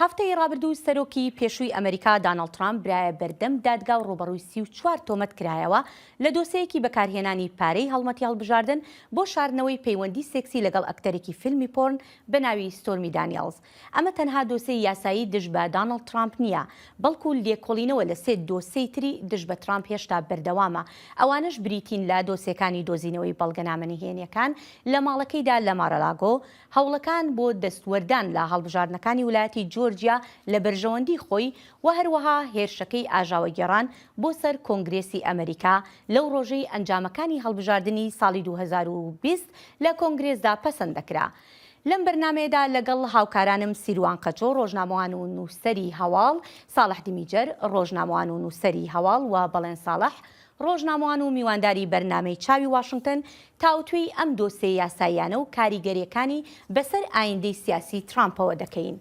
هەفتەی ڕابردوو سەرۆکی پێشووی ئەمەریکا دانڵد ترامپ برایە بەردەم دادگا و ڕووبەڕووی سی و چوار تۆمەت کرایەوە لە دۆسێیەکی بەکارهێنانی پارەی هەڵمەتی هەڵبژاردن بۆ شاردنەوەی پەیوەندی سێکسی لەگەڵ ئەکتەرێکی فیلمی پۆرن بە ناوی ستۆرمی دانیەڵز ئەمە تەنها دۆسێی یاسایی دژ بە دانڵد ترامپ نییە بەڵکو لێکۆڵینەوە لە سێ دۆسێی تری دژ بە ترامپ هێشتا بەردەوامە ئەوانەش بریتین لە دۆسێکانی دۆزینەوەی بەڵگەنامە نهێنیەکان لە ماڵەکەیدا لە مارالاگۆ هەوڵەکان بۆ دەستوەردان لە هەڵبژاردنەکانی ولایەتی جۆرجیا لە بەرژەوەندی خۆی و هەروەها هێرشەکەی ئاژاوەگێڕان بۆ سەر کۆنگرێسی ئەمەریکا لەو ڕۆژەی ئەنجامەکانی هەڵبژاردنی ساڵی دوو هەزار و بیست لە کۆنگرێسدا پەسەند دەکرا. لەم بەرنامەیەدا لەگەڵ هاوکارانم سیروان قەچۆ، ڕۆژنامەوان و نووسەری هەواڵ، ساڵح دیمیجەر، ڕۆژنامەوان و نووسەری هەواڵ و بەڵێن ساڵح، ڕۆژنامەوان و میوانداری بەرنامەی چاوی واشنگتن تاوتوێی ئەم دۆسێ یاساییانە و کاریگەرییەکانی بەسەر ئایندەی سیاسی ترامپەوە دەکەین.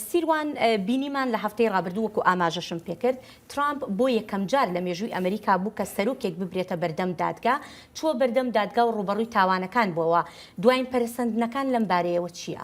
سیروان، بینیمان لە هەفتەی ڕابردوو وەکو ئاماژەشم پێکرد، ترامپ بۆ یەکەمجار لە مێژووی ئەمریکا بوو کە سەرۆکێک ببرێتە بەردەم دادگا، چووە بەردەم دادگا و ڕووبەڕووی تاوانەکان بووەوە، دواین پەرەسەندنەکان لەم بارەیەوە چییە؟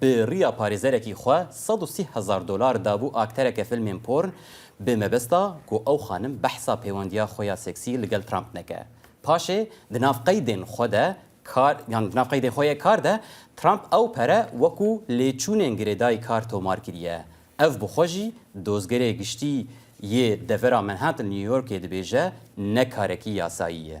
بە ریا پارێزەرەکی خوە سەد و سی هەزار دۆلار دابوو ئاکتەرەکە فلمێن پۆرن بە مەبەستا گۆ ئەو خانم بەحسا پەیوەندیا خوەیا سێکسی لگەل ترامپ نەکە پاشێ دناڤ قەیدێن خوە دە کار یان دناڤ قەیدێن خوەێ کار دە ترامپ ئەو پەرە وەکوو لێچوونێن گرێدای کار تۆمار کریە ئەڤ بخوە ژی دۆزگەێ گشتی یێ دەڤەرا مەنهاتن نیویۆرکێ دبێژە نە کارەکی یاسایی یە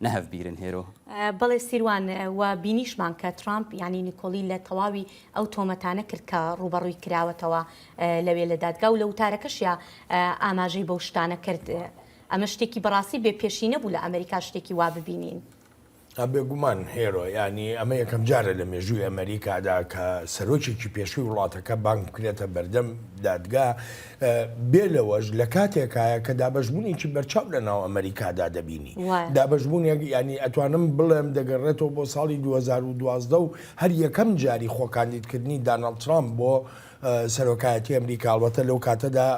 نهف بیرن هێرۆ. بەڵێ سیروان، وە بینیشمان کە ترامپ یانی نیکۆڵی لە تەواوی ئەو تۆمەتانە کرد کە ڕووبەڕووی کراوەتەوە لەوێ لە دادگا و لە وتارەکەشیا ئاماژەی بەو شتانە کرد. ئەمە شتێکی بەڕاستی بێ پێشی نەبوو لە ئەمریکا شتێکی وا ببینین. بێ گومان هێرۆ، یانی ئەمە یەکەم جارە لە مێژووی ئەمریکادا کە سەرۆکێکی پێشووی وڵاتەکە بانگ بکرێتە بەردەم دادگا بێ لەوەش لە کاتێکایە کە دابەشبوونێکی بەرچاو لە ناو ئەمریکادا دەبینی دابەشبوونێک ینی ئەتوانم بڵێم دەگەڕێتەوە بۆ ساڵی 2012 و هەر یەکەم جاری خۆکاندیدکردنی داناڵ ترامپ بۆ سەرۆکایەتی ئەمریکاڵەتە لەو کاتەدا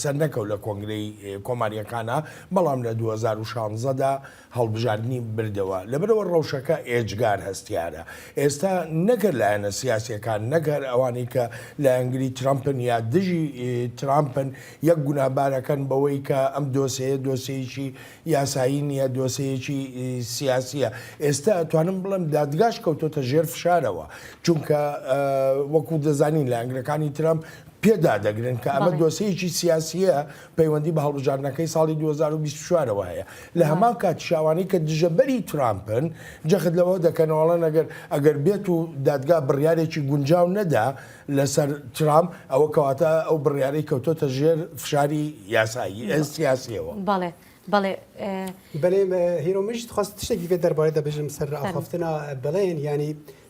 سەرنەکەوت لە کۆنگرەی کۆماریەکانە بەڵام لە 2016دا هەڵبژاردنی بردەوە، لەبەرئەوە ڕەوشەکە ئێجگار هەستیارە. ئێستا نەک هەر لایەنە سیاسییەکان، نەک هەر ئەوانەی کە لایەنگری ترەمپن یا دژی ترامپن، یەک گوناهبار ئەکەن بەوەی کە ئەم دۆسێیە دۆسێیەکی یاسایی نییە، دۆسێیەکی سیاسییە. ئێستا ئەتوانم بڵێم دادگاش کەوتۆتە ژێر فشارەوە، چونکە وەکو دەزانین لایەنگرەکانی ترەمپ پێ دادەگرن کە ئەمە دۆسێیەکی سیاسییە، پەیوەندی بە هەڵبژاردنەکەی ساڵی دوو هەزار و بیست و چوار ەوە هەیە لە وا. هەمان کاتیش ئەوانەی کە دژەبەری ترامپن جەخت لەوە دەکەنەوە ئەڵێن ئەگەر ئەگەر بێت و دادگا بڕیارێکی گونجاو نەدا لەسەر ترامپ ئەوە کەواتە ئەو بڕیارەی کەوتۆتە ژێر فشاری یاسایی ە سیاسیەوە. بەڵێ بەڵێ ئێ. بەلێ هیرۆ منیش دخواست تشتێکی کە دەربارەی دەبژم سەر فەرموو. ڕاخەفتنە بڵێن یانی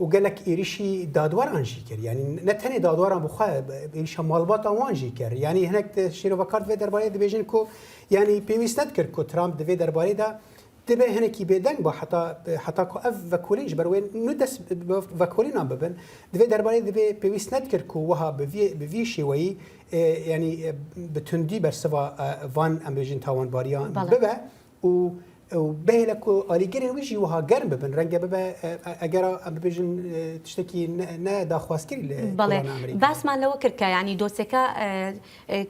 و گەلەک ئیریشی دادوەران ژی کرد یانی نە تەنێ دادوەران بخوا ئیریشە ماڵباتان وان ژی کرد یانی هەنێک شیرۆڤەکار دەبێت دەربارەی دەبێژن کو یانی پێویست نەتکرد کو ترامپ دەبێت دەربارەیدا دەبێ هەنێکی بێدەنگ بە حتا حتا کو ئەف ڤەکولینش بەروێن نو دەست ڤەکولینان ببن دەبێت دەربارەی دەبێ پێویست نەتکرد کو وەها بڤی شێوەیی ینی بتوندی بەرسڤ ڤان ئەمبێژن تاوانباریان ببە و و بێ لە کو ئالی گرێ ویژی وها گەرم ببن ڕەنگە ببە ئەگەر ببێژن تشتێکی ناداخوازکرد لێ بەڵێ باسمان لەوە کرد کە ینی دۆسەکە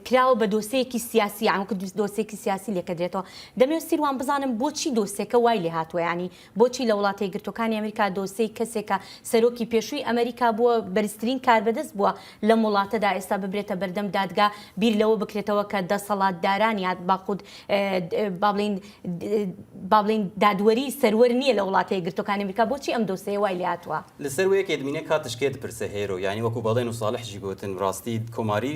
کراوە بە دۆسەیەکی سیاسی ئەوکە دۆسێکی سیاسی لێکە درێتەوە دەمێ سیروان بزانم بۆچی دۆسێکە وای لێ هاتووە ینی بۆچی لە وڵاتە یەکگرتووەکانی ئەمریکا دۆسێی کەسێک کە سەرۆکی پێشووی ئەمریکا بووە، بەرزترین کاربەدەست بووە لەم وڵاتەدا ئێستا ببرێتە بەردەم دادگا بیر لەوە بکرێتەوە کە دەسەڵاتداران یا باخود با بڵێین با بڵێین دادوەری سەروەر نییە لە وڵاتە یەکگرتووەکانی ئەمریکا بۆچی ئەم دۆسێیە وای لێ هاتووە؟ لەسەرووێک ئێدمینێ کاتش کێ دپرسێ هێرۆ یانی وەکوو بەڵێن و ساڵح ژی گۆتن ڕاستی کۆماری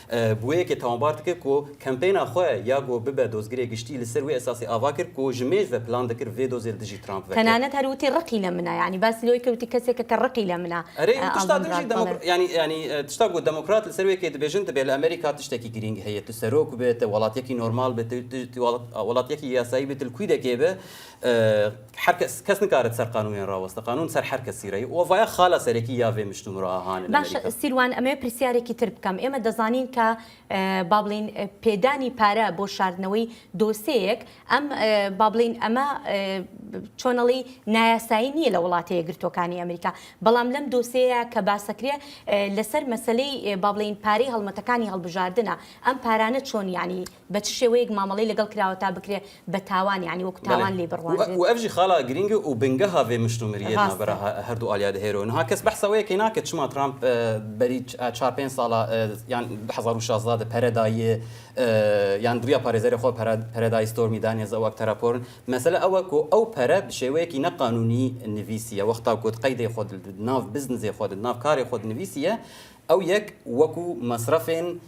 بویە کە تاوانبارت کرد کو کەمپەینا خوە یا گۆ ببە دۆزگرێ گشتی لە سەر وێ ئەساسی ئاڤا کرد کو ژ مێژ ڤە پلان دکرد ڤێ دۆزێ لە دژی ترامپ ڤە کرد. تەنانەت هەر وتی ڕقی لە منە یانی باسی لەوەی کرد وتی کەسێکە کە ڕقی لە منە ئەرێ ئەو تشتا ئاڵدن دژی دمۆک بڕادبەڵێ. یانی یانی تشتا گۆ دمۆکرات لە سەر وێ کێ دبێژن دبێ لە ئەمەریکا تشتەکی گرینگ هەیە تو سەرۆک بێ تە وەڵاتیەکی نۆرماڵ بێ تە وەڵاتیەکی یاسایی بێ تل کوی دەکێ بێ هەر کەس کەس نکارد سەر قانونێ راوەستە، قانون سەر هەر کەسی رەی و ڤایا خالە سەرەکی یاڤێ مشت و مراا هانن باشە ئەمریکا. سیروان ئەمەوێ پرسیارێکی تر بکەم ئێمە دەزانین کە با بڵێین پێدانی پارە بۆ شاردنەوەی دۆسێیەک ئەم با بڵێین ئەمە چۆنەڵی نایاسایی نییە لە وڵاتە یەکگرتووەکانی ئەمریکا بەڵام لەم دۆسێیە کە باسەکرێ لەسەر مەسەلەی با بڵێین پارەی هەڵمەتەکانی هەڵبژاردنە ئەم پارانە چۆن یانی بە چ شێوەیەک مامەڵەی لەگەڵ کراوە تا بکرێ بە تاوان یانی وەکو تاوان لێی بڕوانرێت. وە ئەڤژی خاڵە گرینگ و بنگە هاڤێ مشتومریە ناڤرا ڕاستە. هەردوو ئاڵیا دهێرۆ نها کەس بەحس ئەوەێ کەی ناکەت چما ترامپ بەری چار پێنج ساڵە یان دە هەزار و شازدە دە پەرە دایێ یان دڵیا پارێزەرێ خۆ پەرە پەرە دای ستۆرمی دانێز ئەوەک تەرا پۆرن مەسەلە ئەوە کو ئەو پەرە بە شێوەیەکی نە قانونی نڤیسیە وەختا کوت قەیدێ خۆ دل دناڤ بزنزێ خۆ دناڤ کارێ خۆ دنڤیسیە ئەو یەک وەکو مەسرەفێن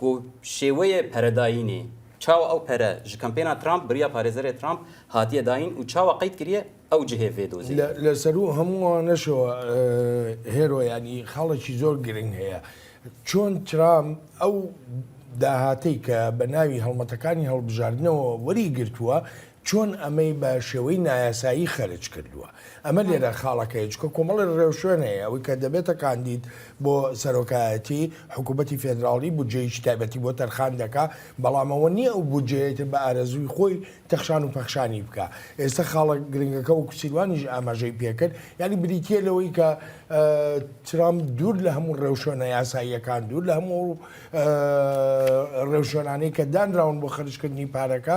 گو شێوەێ پەرە داینێ چاوە ئەو پەرە ژ کەمپێنا ترامپ بریا پارێزەرێ ترامپ هاتیە داین و چاوە قەید کریە ئەو جهێ ڤێ دۆزێ. لە سەروو هەمووانەشەوە هێرۆیانی خاڵێکی زۆر گرنگ هەیە چۆن ترامپ ئەو داهاتەی کە بە ناوی هەڵمەتەکانی هەڵبژاردنەوە وەری گرتووە چۆن ئەمەی بە شێوەی نایاسایی خەرج کردووە؟ ئەمە لێرە خاڵەکەیە، چونکە کۆمەڵێک ڕێوشوێن هەیە، ئەوەی کە دەبێتە کاندید بۆ سەرۆکایەتی، حکوومەتی فێدراڵی بودجەیەکی تایبەتی بۆ تەرخان دەکا، بەڵام ئەوە نییە ئەو بودجەیەی تر بە ئارەزووی خۆی تەخشان و پەخشانی بکا. ئێستە خاڵە گرنگەکە، وەکو سیروانیش ئاماژەی پێ کرد، یانی بریتییە لەوەی کە ترەمپ دوور لە هەموو ڕێوشوێنە یاساییەکان، دوور لە هەموو ئەو ڕێوشوێنانەی کە دانراون بۆ خەرجکردنی پارەکە،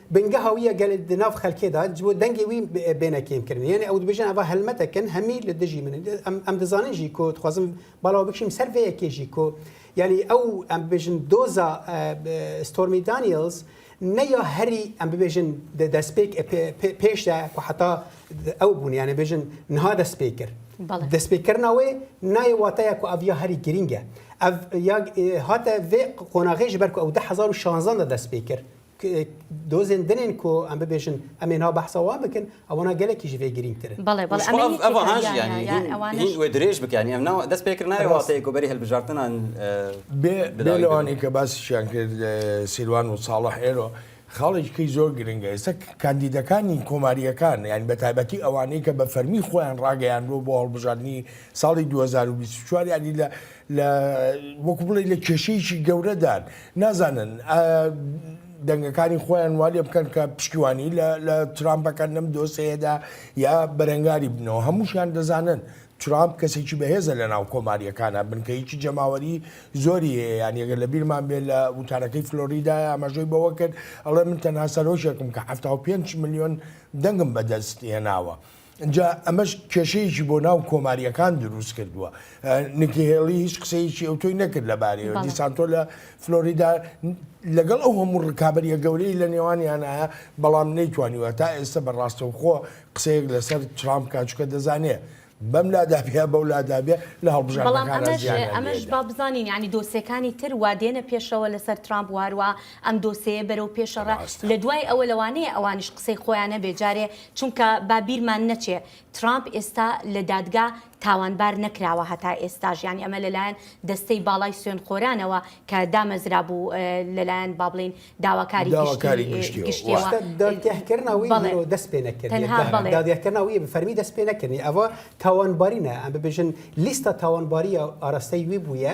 بنگە هاویە گەل دناف خەلکێدا جبۆ دەنگێ وی بێنە کێم کردن یعنی ئەو دبێژن ئەوە هەلمەتەکەن هەمی لە دژی من ئەم دەزانن ژی کۆ دخوازم باڵاوە بکشیم سەر وەیە کێژی کۆ یعنی ئەو ئەم ببێژن دۆزا ستۆرمی دانیلز نەیا هەری ئەم ببێژن دەستپێک پێشدا کو حتا ئەو بوون یانە بێژن نها دەست پێ کرد دەست پێکردنەوەی نایە واتەیە کو ئەڤیا هەری گرینگە هاتە vê قۆناغێژ بەرکو ئەو 2016 دەست پێ کرد دۆزێن دنێن کۆ ئەم ببێژن ئەمێ ناو بەحسە وا بکەن ئەوەنا گەلێکی ژێ گرینگترە بەڵێ بەڵێ درێژ بکەنی ئەم ناوە دەست پێکرد نایە وڵاتەیە گۆبەری هەلبژارتنان بێلوانی کە باسیشیان کرد سیروان و ساڵح ئێرۆ خاڵێکی زۆر گرنگە ئێستا کاندیدەکانی کۆماریەکان یان بە تایبەتی ئەوانەی کە بە فەرمی خۆیان ڕاگەیان بۆ بۆ هەڵبژاردننی ساڵی 2024 ینی لە لە وەکو بڵێی لە کێشەیەکی گەورەدان نازانن ئا دەنگەکانی خۆیان وا لێ بکەن کە پشتیوانی لە لە ترامپ بەکەن لەم دۆسەیەدا یا بەرەنگاری بنەوە هەمووشیان دەزانن ترامپ کەسێکی بەهێزە لە ناو کۆماریەکانە بنکەیەکی جەماوەری زۆری هەیە یان یەگە لە بیرمان بێ لە وتارەکەی فلۆریدا ئاماژەی بەوە کرد ئەڵێ من تەنها سەرۆکێکم کە 75 ملیۆن دەنگم بەدەست هێناوە جا ئەمەش کێشەیەکی بۆ ناو کۆماریەکان دروست کردووە نکهێڵی هیچ قسەیەکی ئەو تۆی نەکرد لە بارەوە دیسانتۆ لە فلۆریدا لەگەڵ ئەو هەموو ڕکابەریە گەورەی لە نێوانیانە بەڵام نەیتوانیوە تا ئێستا بەڕاستەوخۆ قسەیەک لەسەر ترامپ کاچکە دەزانێت بەم لادابێ بەو لادابێ لە هەڵبژانەمەش با بزانین ینی دۆسێکانی تر وادێنە پێشەوە لەسەر ترامپ واروا ئەم دۆسەیە بەرەو پێشەڕە لە دوای ئەوە لەوانەیە ئەوانش قسەی خۆیانە بێجارێ چونکە با بیرمان نەچێ ترامپ ئێستا لە دادگا تاوانبار نەکراوە هەتا ئێستاش یانی ئەمە لەلایەن دەستەی باڵای سوێنخۆرانەوە کە دامەزرابوو لەلایەن با بڵێین داواکاری داواکاری گشتی گشتیەوە واتە دادگایکردنەوەی بەڵێ مرۆ دەست پێ نەکردی تەنها دا- بەڵێ. دادگایکردنەوەی بە فەرمی دەست پێ نەکردنی ئەوە تاوانباری نە ئەم ببێژن لیستە تاوانباری ئاراستەی وی بوویە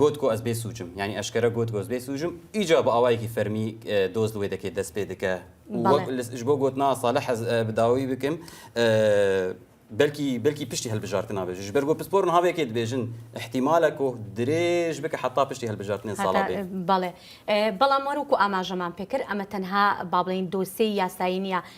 گۆت گۆ ئەز بێ سووجم یانی ئەشکەرە گۆت گۆز بێ سووجم ئیجا بە ئاوایەکی فەرمی دۆز لێ دەکێت دەست پێ دەکە ji بۆ گۆت ناسا لە حەز بداوی بکەم بەلکی بەلکی پشتی هەلبژارتن نابێژ ji ber گۆ پسپۆر ناوێکێ دبێژن احتیمالە کۆ درێژ بکە حتا پشتی هەلبژارتنێن ساڵا بێ بەڵێ بەڵام وەروکو ئاماژەمان پێکرد ئەمە تەنها با بڵین دۆسێ یاسایی نییە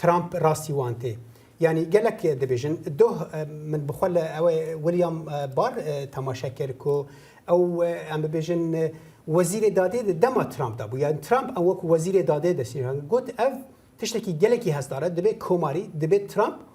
ترامپ راستی وان تێ یانی گەلک دەبێژن دۆ من بخۆ لە ئەوەی ولیام بار تەماشا کرد کو ئەو ئەم ببێژن وەزیرێ دادێ دەما ترامپ دا بوو یان ترامپ ئەو وەکو وەزیرێ دادێ دەسیان گوت ئەو تشتێکی گەلێکی هەستارە دەبێت کۆماری دەبێت ترامپ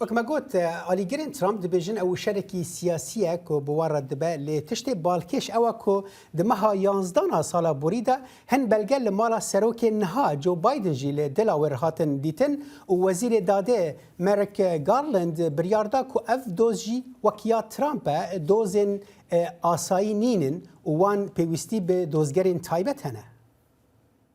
وەک مە گۆت ئالی گرن ترامپ دبێژن ئە وشەرەکی سیاسیە کۆ بوارە دبە لێ تشتێ بالکێش ئەوە کۆ دە مەها یانزدانا سالا بوری دا هن بەلگە لە مالا سەرۆکێ نها جۆ بایدن ژی لە دلاوێر هاتن دیتن و وەزیرێ دادێ مەرک گارلند بریار دا کۆ ئەڤ دۆز ژی وەک یا ترامپە دۆزێن ئاسایی نینن و وان پێویستی بە دۆزگەرێن تایبەت هەنە.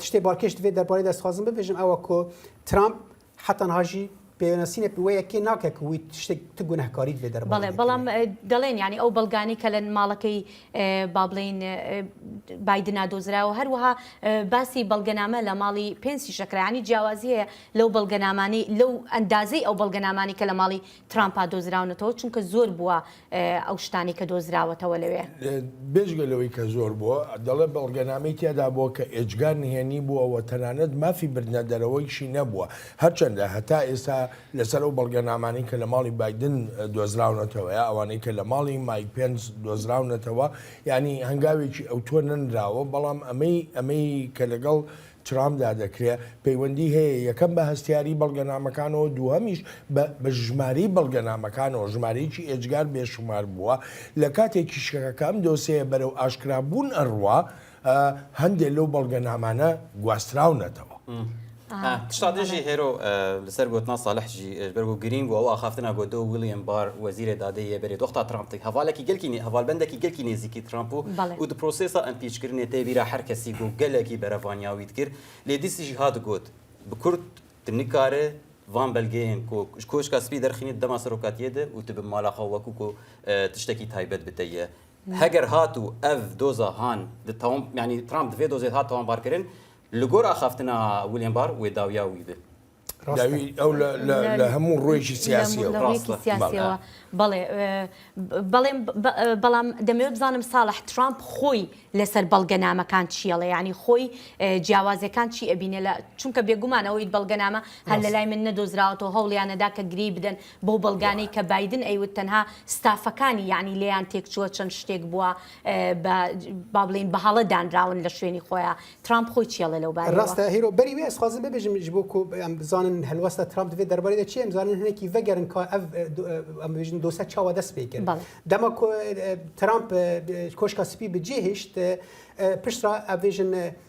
تشتێ باڵکێش دوێ دەربارەی دەستخوازم ببێژم ئەوە کۆ ترامپ حتەنهاژی پێناسینە پوەیەکێ ناکە کوی شتێک تو گونەهکاریت لێ دەر بەڵێ بەڵام دەڵێن ینی ئەو بەڵگانی کە لە ماڵەکەی با بڵین بادنا دۆزراوە هەروەها باسی بەڵگەنامە لە ماڵی پێنسی شەکرانی جیاوازی هەیە لەو بەڵگەنامانی لەو ئەندازەی ئەو بەڵگەنامانی کە لە ماڵی ترامپا دۆزراونەتەوە چونکە زۆر بووە ئەو شتانەی کە دۆزراوەتەوە لەوێ. بێجگە لەوەی کە زۆر بووە، دەڵێت بەڵگەنامەی تیادا بووە کە ئێجگار نهێنی بووە و تەنانەت مافی بردنە دەرەوەیشی نەبووە، هەرچەندە هەتا ئێستا لەسەر ئەو بەڵگەنامانەی کە لە ماڵی بایدن دۆزراونەتەوە یا ئەوانەی کە لە ماڵی مایک پێنس دۆزراونەتەوە یانی هەنگاوێکی ئەوتۆ نەنراوە، بەڵام ئەمەی ئەمەی کە لەگەڵ ترامدا دەکرێت، پەیوەندی هەیە یەکەم بە هەستیاری بەڵگەنامەکانەوە دووهەمیش بە بە ژمارەی بەڵگەنامەکانەوە، ژمارەیەکی ئێجگار بێ شومار بووە، لە کاتێکیش کە کە ئەم دۆسێیە بەرەو ئاشکرابوون ئەڕوا هەندێ لەو بەڵگەنامانە گواستراونەتەوە. سەر گۆتنا سالح جی ئێژ بەر وو گرینگ وو ئەو ئاخافتنا گۆ دۆ ویلیەم بار وەزیرێ دادێ یێ بەێ دۆختا ترامپ تگ هەڤالەکی گەلکی نێ هەڤالبەندەکی گەلکی نێزیکی ترامپ وو ئو د پرۆسێسا ئەمپیچ کرنێ تێ ویرا هەر کەسی گۆ گەلەکی بەرەڤانیاوی د کرد لێ دیسی جی هات گۆت ب کورد ت نکارێ ڤان بەلگێێن کۆ ژ کۆشکا سپی دەرخینێ د دەما سەرۆکاتیێ د ئو ت ب مالا خەو وەکوو کۆ تشتەکی تایبەت ب تە یە هەگەر هات و ئەڤ دۆزا هان د تاوان یانی ترامپ د ڤێ دۆزێ هات تاوانبار کرن لە گۆر ئاخافتنا ویلیام بار وێ داویا وی بێ. داوی ئەو لە هەموو ڕۆیشی سیاسیەوە بەڵێ بەڵێم بەڵام دەمەوێت بزانم ساڵح ترامپ خۆی لەسەر بەڵگەنامەکان چیەڵێ ینی خۆی جیاوازەکان چی ئەبینە لە چونکە بێگومان ئەوەی بەڵگەنامە هەر لە لای من نەدۆزراوەەوە هەوڵیانەدا کە گری بدەن بۆ بەڵگانەی کە بادن ئەیوت تەنها ستافەکانی یعنی لێیان تێکچووە چەند شتێک بووە بە با بڵێین بە هەڵە دانراون لە شوێنی خۆیان. ترامپ خۆی چی ئەڵێ لەو بارەیەوە؟ راستە هیرۆ بەری وێ ئەزخوازم ببێژم ژ بۆ کۆ ئەم بزانن هەلوەستا ترامپ دەێ دەربارەی دە چێم زانن هەنێکی ڤەگەرن کا ئەڤ ئەم بێژن دۆسە چاوە دەست پێ کرد دەما کۆ ترامپ کۆشکا سپی بجێ هێشت پشترا ئەڤێژن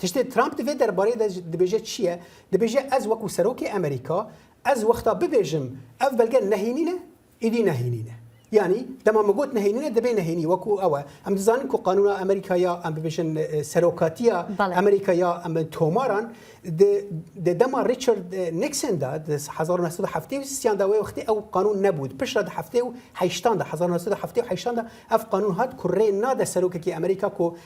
تشتێ ترامپ دەێ دەربارەی دەبێژێت چییە دەبێژێ ئەز وەکو سەرۆکی ئەمریکا ئەز وەختا ببێژم ئەف بەلگە نەهینینە ئیدی نەهینینە ینی دەما مەگوت نهێنە دەبێ نهێنی وەکو ئەوە ئەم دەزانین کو قانون ئەمریکا یا ئەم ببێژن سەرۆکاتیە ئەمریکا یا ئەم تۆماران دەما ریچارد نکسندا 1970دا وەختی ئەو قانون نەبوو پشت لە هەفتێ و هشتاندا 1970دا ئەف قانون هات کوڕێ نادە سەرۆکێکی ئەمریکا کو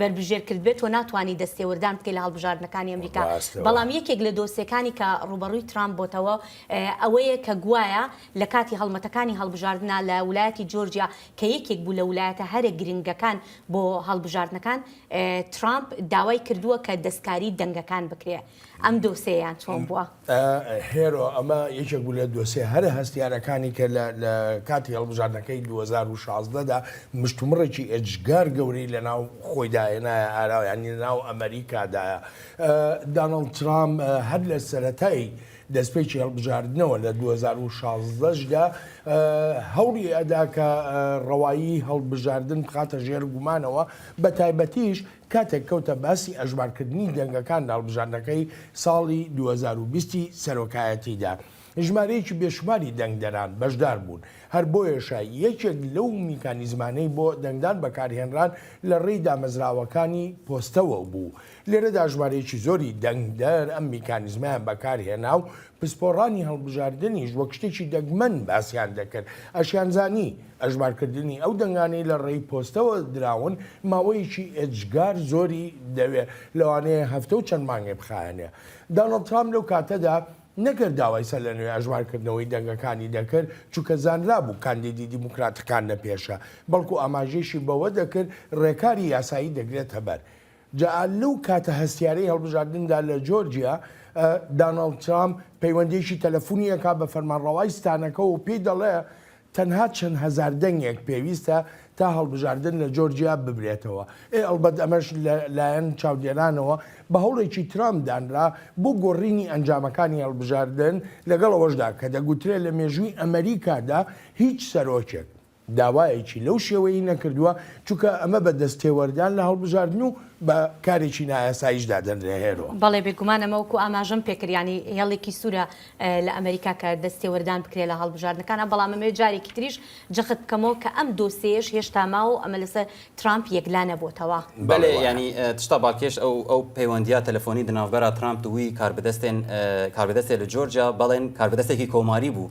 بەربژێر کردبێت و ناتوانی دەستێوەردان بکەیت لە هەڵبژاردنەکانی ئەمریکا. بەڵام یەکێک لە دۆسیەکانی کە ڕووبەڕووی ترامپ بۆتەوە ئەوەیە کە گوایە لە کاتی هەڵمەتەکانی هەڵبژاردنا لە ولایەتی جۆرجیا کە یەکێک بوو لە ولایەتە هەرە گرنگەکان بۆ هەڵبژاردنەکان ترامپ داوای کردووە کە دەستکاری دەنگەکان بکرێت ئەم دۆسێیان چۆن بووە؟ هێرۆ ئەمە یەکێک بوو لە دۆسێ هەرە هەستیارەکانی کە لە کاتی هەڵبژاردنەکەی 2016دا مشتومڕێکی ئێجگار گەورەی لە ناو خۆیداهێنایە ئاراویانی ناو ئەمریکادایە دانڵ ترام هەر لە سەتایی دەستپێکی هەڵبژاردنەوە لە 2016دا هەوڵی ئەدا کە ڕەوایی هەڵبژاردن بخاتە ژێر گومانەوە بە تایبەتیش کاتێک کەوتە باسی ئەژمارکردنی دەنگەکان لە هەڵبژاردنەکەی ساڵی دوو هەزار و بیست ی سەرۆکایەتیدا، ژمارەیەکی بێشوماری دەنگدەران بەشدار بوون، هەر بۆیەشە یەکێک لەو میکانیزمانەی بۆ دەنگدان بەکارهێنران لە ڕێی دامەزراوەکانی پۆستەوە بوو، لێرەدا ژمارەیەکی زۆری دەنگدەر ئەم میکانیزمەیان بەکارهێنا و پسپۆڕانی هەڵبژاردنیش وەک شتێکی دەگمەن باسیان دەکرد، ئەشیانزانی. ئەژمارکردنی ئەو دەنگانەی لە ڕێی پۆستەوە دراون ماوەیەکی ئێجگار زۆری دەوێت، لەوانەیە هەفتە و چەند مانگێ بخایەنێ. دانڵد ترامپ لەو کاتەدا نەگەر داوای سەرلەنوێ ئەژمارکردنەوەی دەنگەکانی دەکرد، چونکە زانرابوو کاندیدی دیموکراتەکان نە پێشە، بەڵکو ئاماژەیشی بەوە دەکرد ڕێکاری یاسایی دەگرێتە بەر. جا لەو کاتە هەستیارەی هەڵبژاردندا لە جۆرجیا، داناڵد ترامپ پەیوەندییەکی تەلەفونی ئەکات بە فەرمانڕەوای ستانەکە و پێی دەڵێ تەنها چەند هەزار دەنگێک پێویستە تا هەڵبژاردن لە جۆرجیا ببرێتەوە. ئێ ئەڵبەت ئەمەش لە لایەن چاودێرانەوە بە هەوڵێکی ترامپ دانرا بۆ گۆڕینی ئەنجامەکانی هەڵبژاردن، لەگەڵ ئەوەشدا کە دەگوترێ لە مێژووی ئەمەریکادا هیچ سەرۆکێک، داوایەکی لەو شێوەیەی نەکردووە، چونکە ئەمە بە دەست تێوەردان لە هەڵبژاردن و بە کارێکی نایاساییش دادەنرێ هێرۆ. بەڵێ بێگومان ئەمە وەکو ئاماژەم پێکرد یانی هێڵێکی سورە لە ئەمەریکا کە دەست تێوەردان بکرێ لە هەڵبژاردنەکان بەڵام ئەمەوێ جارێکی تریش جەخت بکەمەوە کە ئەم دۆسێیەش هێشتا ماوە و ئەمە لەسەر ترامپ یەکلا نەبۆتەوە. بەلێ یانی تشتا باکێش ئەو ئەو پەیوەندیا تەلەفۆنی دناڤبەرا ترامپ دووی کاربدەستێن کاربدەستێ لە جۆرجیا بەڵێن کاربدەستێکی کۆماری بوو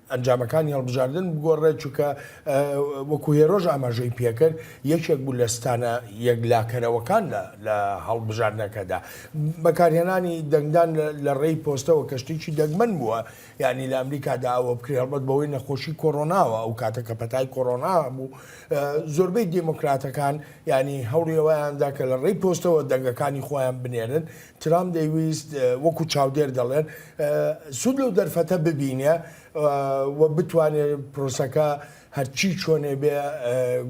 ئەنجامەکانی هەڵبژاردن بگۆڕێت، چونکە وەکو هێرۆش ئاماژەی پێکرد، یەکێک بوو لە ستانە یەکلاکەرەوەکان لە هەڵبژاردنەکەدا. بەکارهێنانی دەنگدان لە ڕێی پۆستەوە کە شتێکی دەگمەن بووە، یانی لە ئەمریکادا ئەوە بکرێت، هەڵبەت بەهۆی نەخۆشی کۆرۆناوە، ئەو کاتە کە پەتای کۆرۆنا هەبوو، زۆربەی دێمۆکراتەکان یانی هەوڵی ئەوەیاندا کە لە ڕێی پۆستەوە دەنگەکانی خۆیان بنێرن، ترامپ دەیویست وەکو چاودێر دەڵێن سوود لەو دەرفەتە ببینێ و بتوانێت پرۆسەکە هەرچی چۆنێ بێ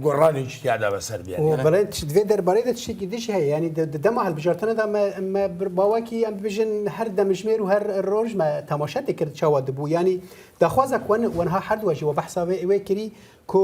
گۆڕانێکی تیادا بەسەر بێت بڵێت دوێ دەربارەی دە شتێکی دیش هەیە ینی دەما هەڵبژارتنەدا باواکی ئەم بژن هەر دەمژمێر و هەر ڕۆژمە تەماشا دەکرد چاوە دەبوو ینی داخوازە کوەن وەنها هەردووەژەوە بەحساوێ ئەوێ کردی کۆ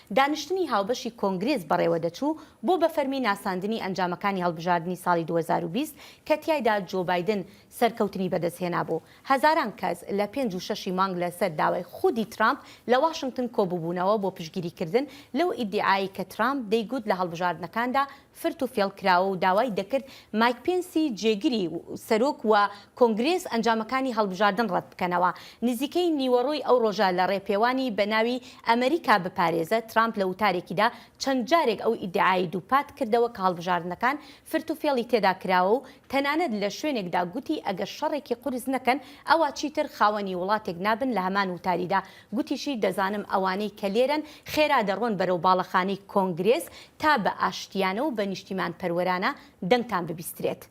دانیشتنی هاوبەشی کۆنگرێس بەڕێوەدەچوو بۆ بە فەرمی ناساندنی ئەنجامەکانی هەڵبژاردنی ساڵی دوو هەزار و بیست کە تیایدا جۆ بایدن سەرکەوتنی بەدەستهێنابوو، هەزاران کەس لە پێنج و شەشی مانگ لەسەر داوای خودی ترامپ لە واشنگتن کۆببوونەوە بۆ پشتگیریکردن لەو ئیدیعایەی کە ترامپ دەیگوت لە هەڵبژاردنەکاندا فرت و فێڵ کراوە و داوای دەکرد مایک پێنسی جێگری سەرۆک و کۆنگرێس ئەنجامەکانی هەڵبژاردن ڕەت بکەنەوە. نزیکەی نیوەڕۆی ئەو ڕۆژە لە ڕێپێوانی بە ناوی ئەمریکا بپارێزە، ترامپ لە وتارێکیدا چەند جارێک ئەو ئیدعایەی دووپات کردەوە کە هەڵبژاردنەکان فرت و فێڵی تێدا کراوە و تەنانەت لە شوێنێکدا گوتی ئەگەر شەڕێکی قورس نەکەن ئەوا چیتر خاوەنی وڵاتێک نابن لە هەمان وتاریدا گوتیشی، دەزانم ئەوانەی کە لێرەن خێرا دەڕۆن بەرەو باڵەخانەی کۆنگرێس تا بە ئاشتییانە و بە نیشتیمانپەروەرانە دەنگتان ببیسترێت.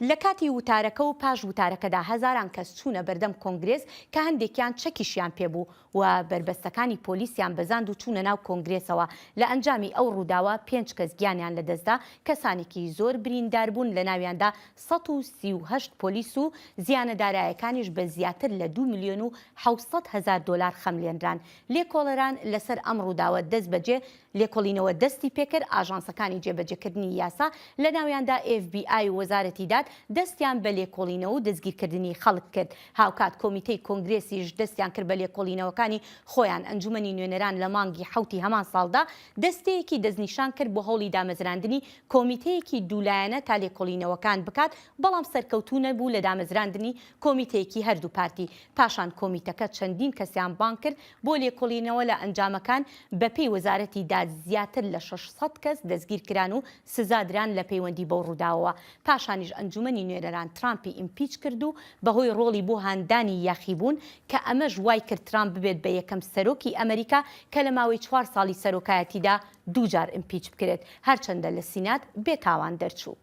لە کاتی وتارەکە و پاش وتارەکەدا هەزاران کەس چوونە بەردەم کۆنگرێس کە هەندێکیان چەکیشیان پێ بوو و بەربەستەکانی پۆلیسیان بەزاند و چوونە ناو کۆنگرێسەوە، لە ئەنجامی ئەو ڕووداوە پێنج کەس گیانیان لەدەستدا، کەسانێکی زۆر برینداربوون لەناویاندا سەد و سی و هەشت پۆلیس و زیانە دارایەکانیش بە زیاتر لە دوو ملیۆن و حەوت سەد هەزار دۆلار خەملێنران، لێکۆڵەران لەسەر ئەم ڕووداوە دەستبەجێ لێکۆڵینەوە دەستی پێکرد، ئاژانسەکانی جێبەجێکردنی یاسا لەناویاندا ئێف بی ئای و وەزارەتی داد دەستیان بە لێکۆڵینەوە و دەستگیرکردنی خەڵک کرد، هاوکات کۆمیتەی کۆنگرێسیش دەستیان کرد بە لێکۆڵینەوەکانی خۆیان، ئەنجومەنی نوێنەران لە مانگی حەوتی هەمان ساڵدا دەستەیەکی دەستنیشان کرد بۆ هەوڵی دامەزراندنی کۆمیتەیەکی دوو لایەنە تا لێکۆڵینەوەکان بکات بەڵام سەرکەوتوو نەبوو لە دامەزراندنی کۆمیتەیەکی هەردوو پارتی، پاشان کۆمیتەکە چەندین کەسیان بانگ کرد بۆ لێکۆڵینەوە لە ئەنجامەکان، بەپێی وەزارەتی داد زیاتر لە شەش سەد کەس دەستگیرکران و سزادران لە پەیوەندی بەو ڕووداوەوە، پاشانیش ئەنجومەنی نوێنەران ترامپی ئیمپیچ کرد و بەهۆی ڕۆڵی بۆ هاندانی یاخیبوون کە ئەمەش وایکرد ترامپ ببێت بە یەکەم سەرۆکی ئەمەریکا کە لە ماوەی چوار ساڵی سەرۆکایەتیدا دووجار ئیمپیچ بکرێت، هەرچەندە لە سینات بێتاوان دەرچوو.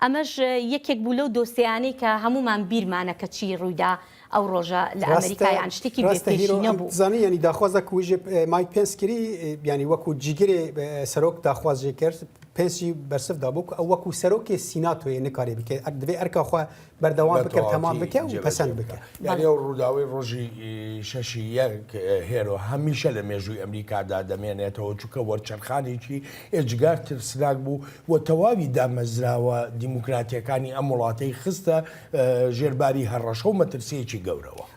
ئەمەش یەکێک بوو لەو دۆسێیانەی کە هەموومان بیرمانە کە چی ڕوویدا ئەو ڕۆژە لە ئەمریکا یان شتێکی بێ پێشینە بوو. ڕاستە هیرۆ، ئەم زانی یانی داخوازە کو ژێ مایک پێنس کری یانی وەکو جیگرێ سەرۆک داخوازێ کرد پێنسی بەرسڤ دابوو کو ئەو وەکو سەرۆکێ سیناتۆیێ نکارێ بکێ ئەک دڤێ ئەرکا خوە بەردەوام بە بکە تەمام تەواوەتی بکە و جێبەجێ پەسەند بکە. بکە یاری ئەو ڕووداوی ڕۆژی ی، شەشی یەک هێرۆ هەمیشە لە مێژووی ئەمریکادا دەمێنێتەوە چونکە وەرچەرخانێکی ئێجگار ترسناک بوو و تەواوی دامەزراوە دیموکراتییەکانی ئەم وڵاتەی خستە ژێر باری هەڕەشە و مەترسییەکی گەورەوە.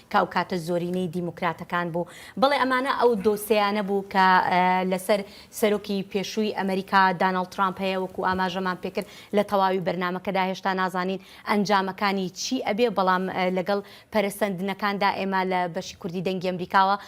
کە ئەو کاتە زۆرینەی دیموکراتەکان بوو. بەڵێ ئەمانە ئەو دۆسێیانە بوو کە لەسەر سەرۆکی پێشووی ئەمەریکا داناڵد ترامپ هەیە، وەکو ئاماژەمان پێکرد لە تەواوی بەرنامەکەدا هێشتا نازانین ئەنجامەکانی چی ئەبێ، بەڵام لەگەڵ پەرەسەندنەکاندا ئێمە لە بەشی کوردی دەنگی ئەمریکاوە